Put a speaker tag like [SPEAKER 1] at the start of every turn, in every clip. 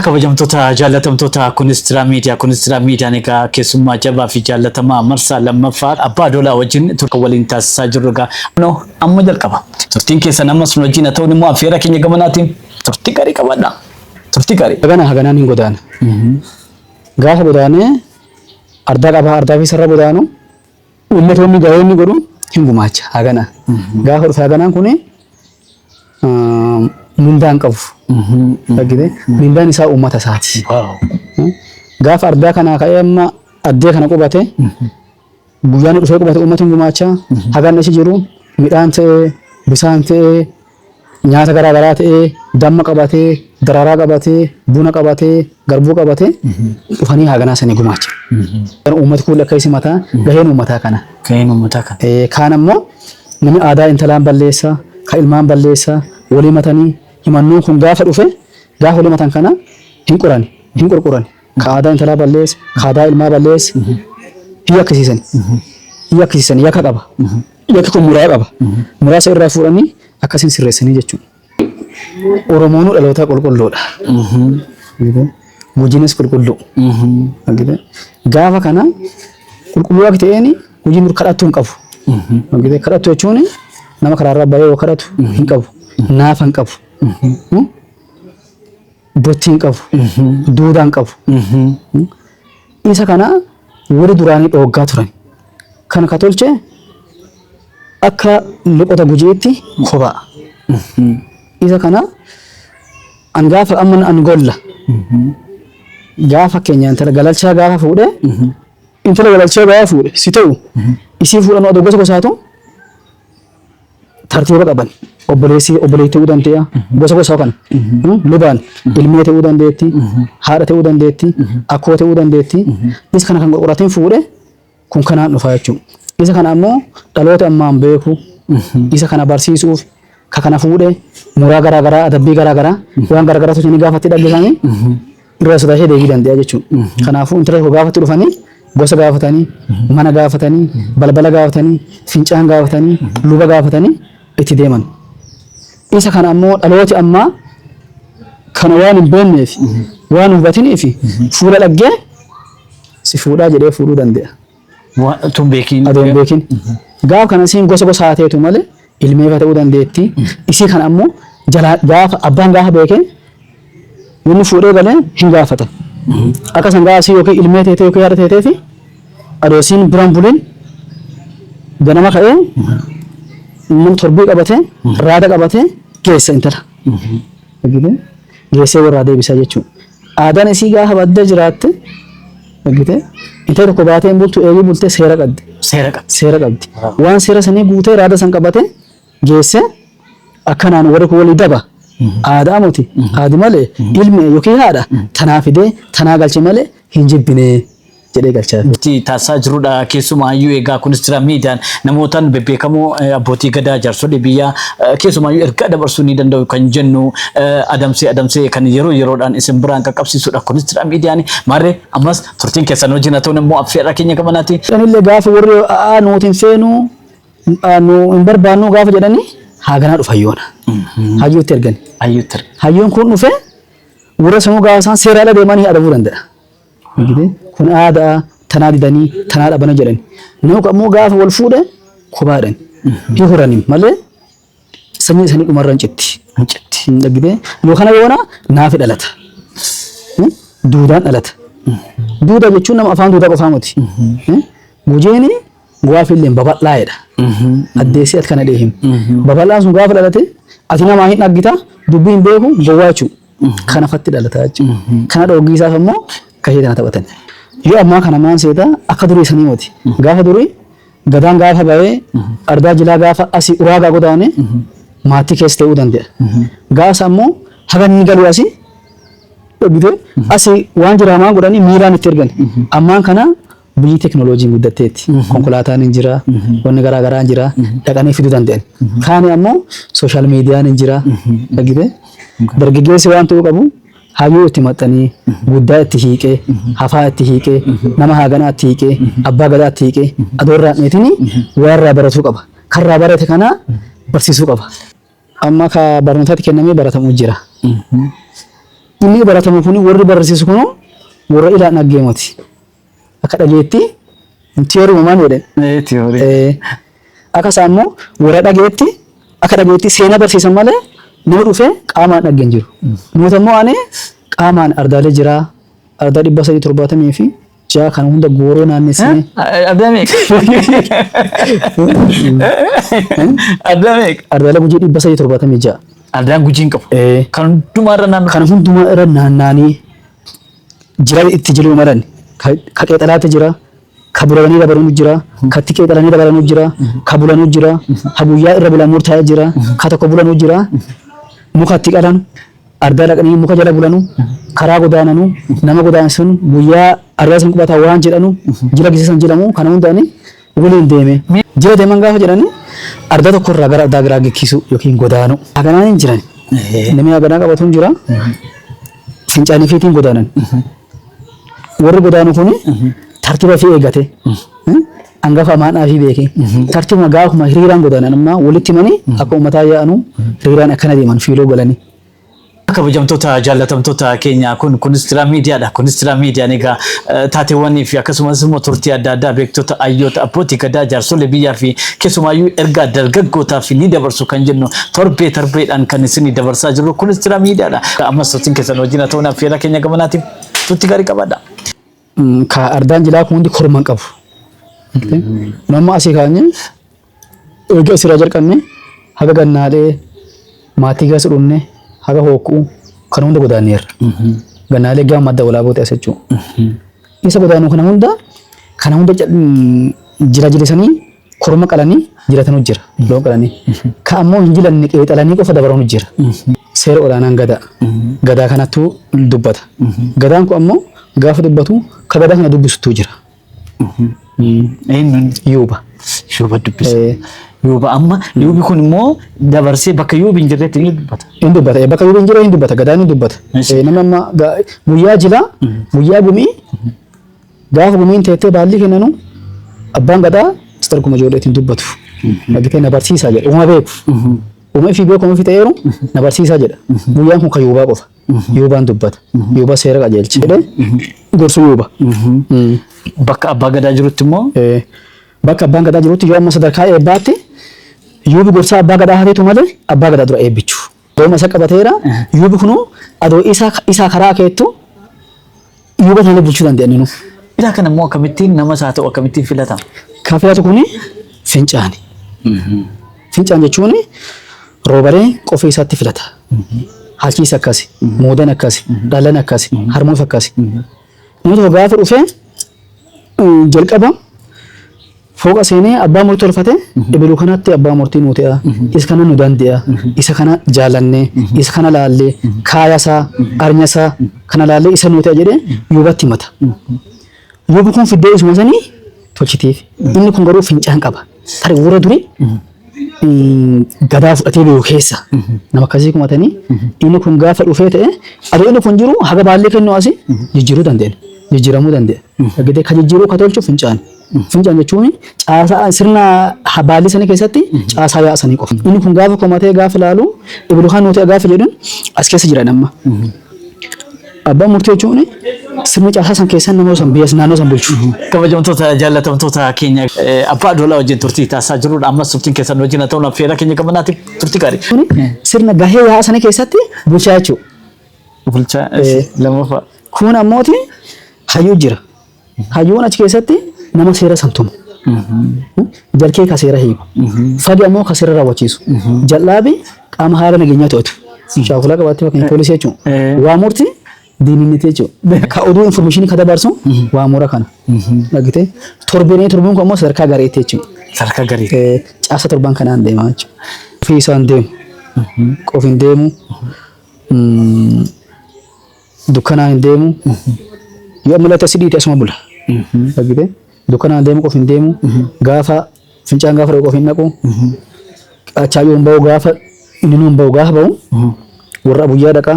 [SPEAKER 1] Kabajamtoota jaallatamtoota Kunistira Miidiyaa Kunistira Miidiyaan egaa keessummaa jabaa fi jaallatamaa marsaa lammaffaa abbaa doolaa wajjin turtii waliin taasisaa jirru egaa kunoo amma jalqaba. Turtiin keessan ammas nu wajjin haa ta'uun immoo affeera keenya gamanaatiin turtii gaarii qabaadha. Turtii gaarii. Hagana haganaan hin godaana.
[SPEAKER 2] Gaafa godaanee ardaa qabaa ardaa keessarra godaanu Ummatoonni gahoonni godhu hin gumaacha hagana. Gaafa dhufe haganaan kun mindaan qabu. Dhaggite mindaan isaa uummata isaati. Gaafa ardaa kanaa ka'ee amma addee kana qubate guyyaan dhufee qubate uummata hin gumaacha. Hagaan achi jiru midhaan ta'ee bisaan ta'ee nyaata garaa garaa ta'ee damma qabatee daraaraa qabatee buna qabatee garbuu qabatee dhufanii haaganaa sanii gumaacha. Kan uummati kuulli akka isi mataa gaheen uummataa kana. Gaheen uummataa kana.
[SPEAKER 1] Eh, Kaan ammoo
[SPEAKER 2] namni aadaa intalaan balleessa kan ilmaan balleessa walii matanii himannoon kun gaafa dhufe gaafa walii matan kana hin qorani hin qorqorani. Ka aadaa intalaa balleesse, ka aadaa ilmaa balleesse hin yakkisiisan. Hin yakkisiisan yakka qaba. Yakki kun muraa qaba. Muraasa irraa fuudhanii akkasiin sirreessanii jechuudha. Oromoonuu dhalootaa qulqulluudha. Argitee? Hojiinis qulqulluu. Argitee? Gaafa kana qulqulluu akka ta'een hojii dur kadhattuu hin qabu. Argitee? Kadhattuu jechuun nama karaarraa bahee yoo kadhatu hin qabu. Naafa hin qabu. Gochi hin qabu. Duudhaa hin qabu. Isa kana warri duraanii dhooggaa turan. Kana ka tolche akka loqota gujiitti kophaa. Isa kana an gaafa amma an golla. Gaafa fakkeenyaa intala galalchaa gaafa fuudhe intala galalchaa gaafa fuudhe si ta'u isii fuudhan odoo gosa gosaatu tartiiba qaban obboleessi obboleetti ta'uu danda'a gosa gosa kana Hmm? lubaan ilmee ta'uu dandeetti haadha ta'uu dandeetti akkoo ta'uu dandeetti isa kana kan qorqoratiin fuudhe kun kanaan dhufa jechuudha isa kana ammoo dhaloota ammaan beeku isa kana barsiisuuf ka kana fuudhe muraa garaa garaa adabbii garaa garaa waan garaa garaatu isin gaafatti dhaggeeffame Irra sodaa ishee deebii danda'a jechuudha. Kanaafuu intala tokko gaafatti dhufanii gosa gaafatanii, mana gaafatanii, balbala gaafatanii, fincaan gaafatanii, luba gaafatanii itti deeman. Isa kana ammoo dhalooti ammaa kana waan hin beekneef, waan hin hubatiniif fuula dhaggee si fuudhaa jedhee fuudhuu danda'a. Wa- Utuu hin
[SPEAKER 1] beekiin. adoo hin beekin.
[SPEAKER 2] Gaaf kana isiin gosa gosa haa teetu malee ilmeefa ta'uu dandeetti. Isii kana ammoo jalaa gaafa abbaan gaafa beekee namni fuudhee galee hin gaafata. Akka san gaafa isii yookiin ilmee teetee yookiin haadha teetee fi adoo isiin biraan buliin ganama ka'ee nama torbii qabatee raada qabatee geessa intala. Argitee? Geessee warraa deebisaa jechuudha. Aadaan isii gaafa badda jiraatte argite intala tokko baatee hin bultu eegii bultee seera qabdi. Seera qabdi. Seera qabdi. Waan seera sanii guutee raada san qabatee geessee akkanaan warri kun walii daba. Aadaa moti aadi malee ilmi yookiin haadha tanaa fidee tanaa galche malee hin jibbinee jedhee galchaa. Itti taasisaa jirudha.
[SPEAKER 1] Keessumaayyuu egaa kunis jira miidiyaan namootaan bebbeekamoo eh, abbootii gadaa jaarsolii biyyaa eh, keessumaayyuu ergaa dabarsuu ni danda'u kan jennu eh, adamsee adamsee kan yeroo yeroodhaan isin biraan qaqqabsiisudha. Kunis jira miidiyaan maarree ammas turtiin keessan wajjin haa ta'uun immoo affeerraa keenya qabanaati. Anillee gaafa warri
[SPEAKER 2] aa nuuti hin feenu aa, nu hin barbaannu gaafa jedhanii haaganaa dhufa hayyoona. Hayyootti ergani. Ayyuutti. Hayyoon kun dhufee warra sanuu gaafa isaan seeraa ala deemanii adabuu danda'a. Argitee? Kun aada'a, tanaa didanii, tanaa dhabana jedhani. Nama kun ammoo gaafa wal fuudhe kophaadhan. Hin horani malee sanyiin isanii dhumarra hin citti. Hin citti. Hin dhaggitee? Yoo kana yoona naafi dhalata. Hmm? Duudaan dhalata. Duuda jechuun nama afaan duudaa qofaa miti. Hmm? Gujiini gaafi illee babal'aa'edha. Addeessee ati kana dhee himi. Babal'aan sun gaafa dhalate ati namaa hin dhaggita dubbii hin beeku gowwaa jechuudha. Kana fatti dhalataa jechuudha. Kana dhooggii isaaf ammoo kashee tana taphatan. Yoo ammaa kana maan seeta akka durii sanii moti. Gaafa durii gadaan gaafa ba'ee ardaa jilaa gaafa asii uraagaa godaane maatii keessa ta'uu danda'a. Gaasa ammoo haga inni galu asii dhoggitee asii waan jiraamaa godhanii miiraan itti ergan. Ammaan kana Biyyi teknolojiin guddatteetti. Konkolaataan hin jira, wanni garaa garaa hin jira, dhaqanii fiduu danda'an. Kaani ammoo sooshaal miidiyaan hin jira. Argitee? Dargaggeessi waan ta'uu qabu hayyuu itti maxxanii, guddaa itti hiiqee, hafaa itti hiiqee, nama haaganaa itti hiiqee, abbaa gadaa itti hiiqee, adoo irraa hin dheetinii waa irraa baratuu qaba. Kan irraa barate kana barsiisuu qaba. Amma ka barnootatti kennamee baratamu jira. Inni baratamu kun warri barreessisu kun warra ilaan dhaggee moti. Akka dhageetti tiyooruma maal jedhe? Ee, tiyoorii.
[SPEAKER 1] Eh, Akka isaa
[SPEAKER 2] immoo warra dhageetti akka dhageetti seenaa barsiisan malee nama dhufee qaamaan dhagge hin jiru. Nuti immoo ani qaamaan ardaalee jira ardaa dhibba sadii torbaatamii fi Jaa kana hunda gooroo naannessine. Adda meeqa? Adda meeqa? Ardaalee gujii dhibba sadii torbaatamii ja'a. Ardaan gujii hin
[SPEAKER 1] qabu. Eh. Kan hundumaa irra naannoo. Kana hundumaa
[SPEAKER 2] irra naannaanii jira itti jiru malan. Ka ka qeexalaatti jira. Ka bulalanii dabalanu jira. Ka itti qeexalanii dabalanu jira. Ka bulanu jira. Ka guyyaa irra bulan murtaa'e jira. Ka tokko bulanu jira. Muka itti qalan. Ardaa dhaqanii muka jala bulanu, karaa godaananu, nama godaansisanu, guyyaa ardaa san qubata waan jedhanu, jila gisa san jedhamu kana hunda ani waliin deeme. Jila deeman gaafa jedhani ardaa tokko irraa gara ardaa biraa geggeessuu yookiin godaanu. Haganaan hin jiran. Namni haganaa qabatu hin jira. Fincaanii fi ittiin godaanan. Warri godaanu kuni tartiiba fi eeggate. Angafa amaan dhaafii beekee. Tartiibuma gaafuma hiriiraan godaanan ammaa walitti himanii akka uummataa yaa'anu hiriiraan akkana deeman fiiloo galanii. Kabajamtoota
[SPEAKER 1] jaallatamtoota keenya kun Kunistira Miidiyaadha. Kunistira Miidiyaan egaa eh, taateewwanii fi akkasumas immoo turtii adda addaa beektota hayyoota abbootii gadaa jaarsolee biyyaa fi keessumaayyuu ergaa dargaggootaaf ni dabarsu kan jennu torbee torbeedhaan kan isin dabarsaa jirru Kunistira Miidiyaadha. Ammas turtiin keessan wajjin haa ta'uun affeerraa keenya gamanaatiin turtii gaarii qabaadha. Ka
[SPEAKER 2] ardaan jilaa kun hundi korma hin qabu. Argitee? Nu amma asii kaanyee eega asirraa jalqabnee haga gannaalee maatii keessa dhumne haga hookkuu kan hunda godaanneerra. Gannaalee gama madda walaabootti as jechuudha. Isa godaanuu kana hunda kana hunda jal- jila jilisanii Korma qalanii jilatanu jira, loon qalanii. Ka ammoo hin jilanne qeexalanii qofa dabaranu jira. Seera olaanaan Gadaa. Gadaa kanattu dubbata. Gadaan kun ammoo gaafa dubbatu ka Gadaa kana dubbisuttu jira. Eenyuun? Yuuba. Yuuba dubbisa.
[SPEAKER 1] Eh. Yuuba amma yuubi kun immoo dabarsee bakka yuubi hin jirretti ni dubbata. Hin dubbata. Eh, Bakka yuuba hin
[SPEAKER 2] jirre hin dubbata. Gadaan hin dubbata. Eshi. Eh, Nama amma ga- guyyaa jilaa, guyyaa gumii, Gaafa gumiin teettee baallii kennanu abbaan gadaa Mr. Kuma ijoolleetiin dubbatu. Dhagitee na barsiisaa jedha. Uma beeku. Uma ifii beeku ofi ta'eeru na barsiisaa jedha. Guyyaan kun kan yuubaa qofa. Yuubaan dubbata. Yuuba seera qajeelcha. Jedhee gorsu yuuba. Mm.
[SPEAKER 1] Bakka abbaa gadaa jirutti immoo Eh, Bakka
[SPEAKER 2] abbaan gadaa jirutti yoo amma sadarkaa eebbaatti yuubi gorsaa abbaa gadaa hafeetu malee abbaa gadaa dura eebbichu. Dooma isa qabateera. Yuubi kunu adoo isaa isaa karaa keettu yuuba tanallee bulchuu dandeenye nu. Isaa kana immoo
[SPEAKER 1] akkamittiin nama isaa ta'u akkamittiin filata? Kan filatu kuni
[SPEAKER 2] fincaani. Fincaan jechuun roobaree qofii isaatti filata. Halkiis akkasi, muudan akkasi, dhalan akkasi, harmuus akkasi. Nama tokko gaafa dhufee jalqaba fooqa seenee abbaa murtii tolfate ebiluu kanatti abbaa murtii nuu ta'e isa kana nu dande'a isa kana jaalannee isa kana laallee kaayasaa arnyasaa kana laallee isa nuu ta'e jedhee yuubatti himata. Yuubi kun fiddee isuma sanii tolchitiif. Inni kun garuu fincaan qaba. Tarii warra durii mm, gadaa fudhatee beeku keessa nama akkasii kumatanii inni kun gaafa dhufee ta'e adoo inni kun jiru haga baallee kennuu asi jijjiiruu dandeenya. Jijjiiramuu dandeenya. Gidee kan jijjiiruu kan tolchu fincaan. Fincaan jechuun caasaa sirna ha- baallee sana keessatti caasaa yaa'aa sanii qofa. Inni kun gaafa kumatee gaafa ilaalu ibilu kan nuti gaafa jedhun as keessa jira amma. Abbaan murtii jechuun sirna caasaa san keessaa nama san biyya naannoo san bulchu. Kabajamtoota
[SPEAKER 1] jaallatamtoota keenya eh, abbaa adoolaa wajjin turtii taasisaa jirrudha. Ammas turtiin keessan wajjin haa ta'uun affeerraa keenya qabanaati turtii gaarii. Kuni sirna gahee
[SPEAKER 2] yaa'aa sana keessatti bulchaa jechuudha. Bulchaa
[SPEAKER 1] eh, lammaffaa. Kun ammooti
[SPEAKER 2] hayyuu jira. Hayyoon achi keessatti nama seera san tumu. Jarkee ka seera hiiku. Fagi ammoo ka seera raawwachiisu. Jal'aabi qaama haala nageenyaa to'atu. Shaakula qabaatti fakkeenya poolisii jechuun. Eh. Waa murti diinninniti jechuudha. Ka oduu infoormeeshinii ka dabarsu waa mura kana. Dhagite torbeenee torbuun kun ammoo sadarkaa gareetti jechuudha. Sadarkaa garii. Eh,
[SPEAKER 1] Caasa torban kanaan
[SPEAKER 2] deemaa jechuudha. Ofii isaan deemu. Qofiin deemu. Mm, dukkanaan hin deemu yoo ammalatti asi dhiite asuma bula argite dukkanaan deemu qof hin deemu gaafa fincaan gaafa dhaqu qof hin dhaqu achaa yoo hin ba'u gaafa inni nu hin ba'u gaafa ba'u warra abuyyaa dhaqa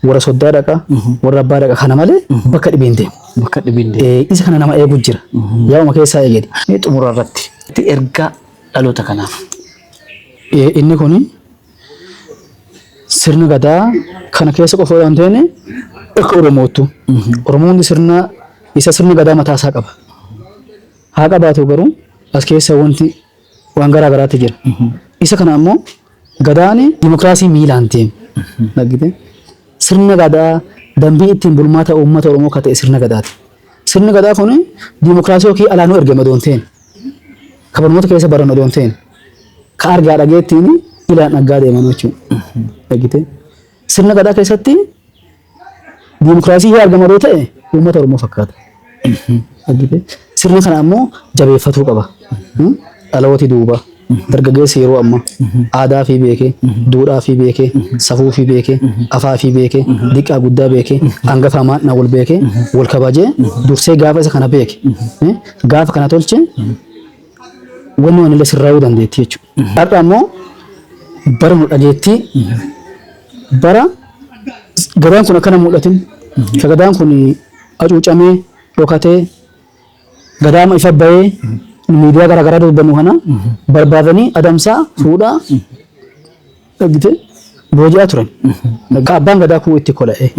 [SPEAKER 2] warra soddaa dhaqa warra abbaa dhaqa kana malee bakka dhibee hin deemu. Bakka dhibee hin deemu.
[SPEAKER 1] Eh, isa kana nama eegu jira.
[SPEAKER 2] Yaa'uma keessaa eegedi. Mee xumura irratti
[SPEAKER 1] itti ergaa dhaloota kanaaf. Eh, Inni kun
[SPEAKER 2] sirna gadaa kana keessa qofa waan ta'een akka Oromoottu. Oromoonni sirna isa sirna gadaa mataa isaa qaba. Haa qabaatu garuu as keessa wanti waan garaa garaatti jira. Isa kana ammoo gadaan dimokiraasii miilaan deemu. Dhaggite? Sirna gadaa dambii ittiin bulmaata uummata Oromoo akka ta'e sirna gadaati. Sirni gadaa kun dimokiraasii yookiin alaanuu ergame odoon ta'een. Kabarnoota keessa baran odoon ta'een. ka argaa dhageettiin ilaan dhaggaa deeman jechuudha. Dhagite. Sirna gadaa keessatti diimokiraasii yoo argama yoo ta'e uummata Oromoo fakkaata. Dhagite. Sirna kana ammoo jabeeffatuu qaba. Hmm? Dhalooti duuba. Dargaggeessi yeroo ammaa aadaa fi beekee, duudhaa fi beekee, safuu fi beekee, afaa fi beekee, diqqaa guddaa beekee, hangafaa maadnaa wal beekee, wal kabajee, dursee gaafa isa kana beeke. Eh? Gaafa kana tolche Wanni wanillee sirraa'uu dandeetti jechuudha. Har'a ammoo bara nu dhageettii bara gadaan kun akkana mul'atin ka gadaan kun hacuucamee dhokatee gadaama ifa bahee nu miidiyaa garaa garaa dubbannu kana barbaadanii adamsaa fuudhaa dhaggite booji'aa turan. Ka abbaan gadaa kuu itti kola'ee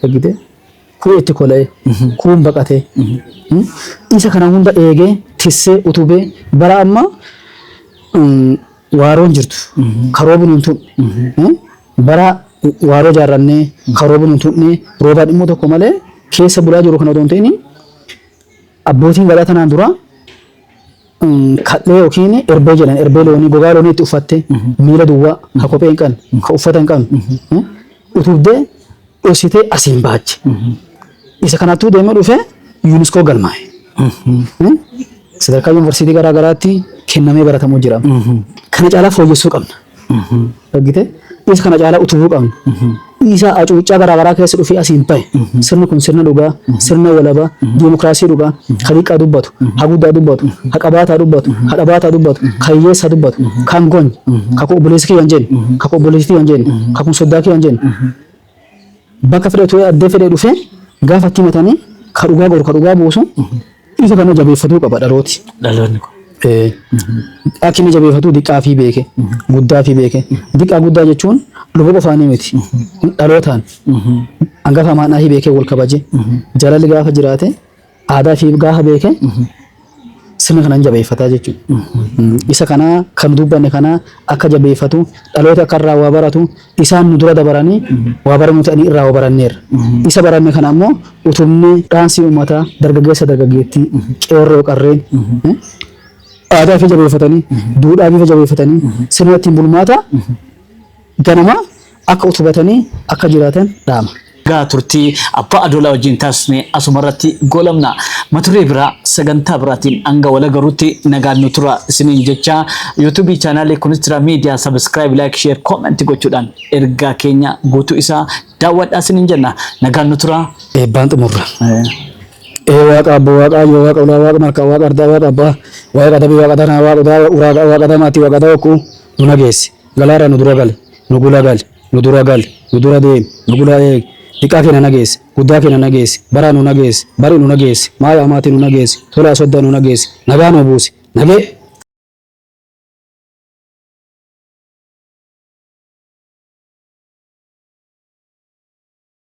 [SPEAKER 2] dhaggite. Kuun itti kola'e, kuun baqate. Isa kana hunda eegee, tissee, utubee bara amma mm, waaroon jirtu karoobi nun tuqne. Bara waaroo jaarrannee karoobi nun tuqne roobaan immoo tokko malee keessa bulaa jiru kana otoo hin ta'in abbootiin gadaa tanaan dura Kal'ee yookiin erbee jedhan erbee loonii gogaa loonii itti uffattee miila duwwaa ka kophee hin qabne ka uffata hin qabne utubdee dhositee asiin baache. Isa kanattuu deemee dhufee yuuniskoo galmaa'e. Sadarkaa yuunivarsiitii garaa garaatti kennamee baratamuu jira. Kana caalaa fooyyessuu qabna. Dhaggite is kana caalaa utubuu qabna. Dhiisaa acuuccaa garaa garaa keessa dhufee asiin ta'e sirni kun sirna dhugaa, sirna walabaa, diimokiraasii dhugaa, ha diqqaa dubbatu, ha guddaa dubbatu, ha qabaataa dubbatu, ha dhabaataa dubbatu, ka hiyyeessaa dubbatu, kan gonye, ka kun obboleessa kiyya hin jenne, ka kun obboleessi tiyya hin jenne, ka kun soddaa kiyya hin jenne. Bakka fedhe utuu addee fedhee dhufee gaafa itti himatanii ka dhugaa goru ka dhugaa buusu isa kana jabeeffatuu qaba dhalooti. Dhaloonni kun. Ee, Akka inni jabeeffatu diqqaa fi beeke guddaa fi beeke diqqaa guddaa jechuun luba qofaanii miti dhalootaan hangafa amaanaa fi beekee wal kabaje jaalalli gaafa jiraate aadaa fi gaafa beeke sirna kana hin jabeeffataa jechuudha. Isa kana kan dubbanne kana akka jabeeffatu dhaloota akka irraa waa baratu isaan nu dura dabaranii waa baranii nuti ani irraa waa baranneerra. Isa baranne kana ammoo utubnee dhaansii uummataa dargaggeessa dargaggeettii qeerroo qarreen eh, aadaa fi jabeeffatanii duudhaa bifa jabeeffatanii sirna ittiin bulmaata ganamaa akka utubatanii akka jiraatan dhaama. Egaa turtii
[SPEAKER 1] Abbaa Adoolaa wajjin taasifne asumarratti goolabna. Matuduree biraa sagantaa biraatiin hanga wal agarrutti nagaan nu turaa isiniin jechaa YouTube chaanaalii Kunistira Miidiyaa Subscribe, Like, Share, Comment gochuudhaan ergaa keenya guutuu isaa daawwadhaa isiniin jenna. Nagaan nu turaa. Eebbaan xumurra.
[SPEAKER 2] Ee waaqa abboo waaqa ayyoo waaqa ulaa waaqa markaa waaqa ardaa waaqa abbaa waaqa dabii waaqa danaa waaqa udaa waaqa waaqa damaatti waaqa dawaqquu nu nageessi. Galaarra nu dura gali, nu gula gali, nu dura gali, nu dura deemi, nu gula eegi, diqqaa keenna nageessi, guddaa keenna nageessi, baraa nu nageessi, bari nu nageessi, maaya amaati nu nageessi, tolaa sodda nu nageessi, nagaa nuu buusi, nagee.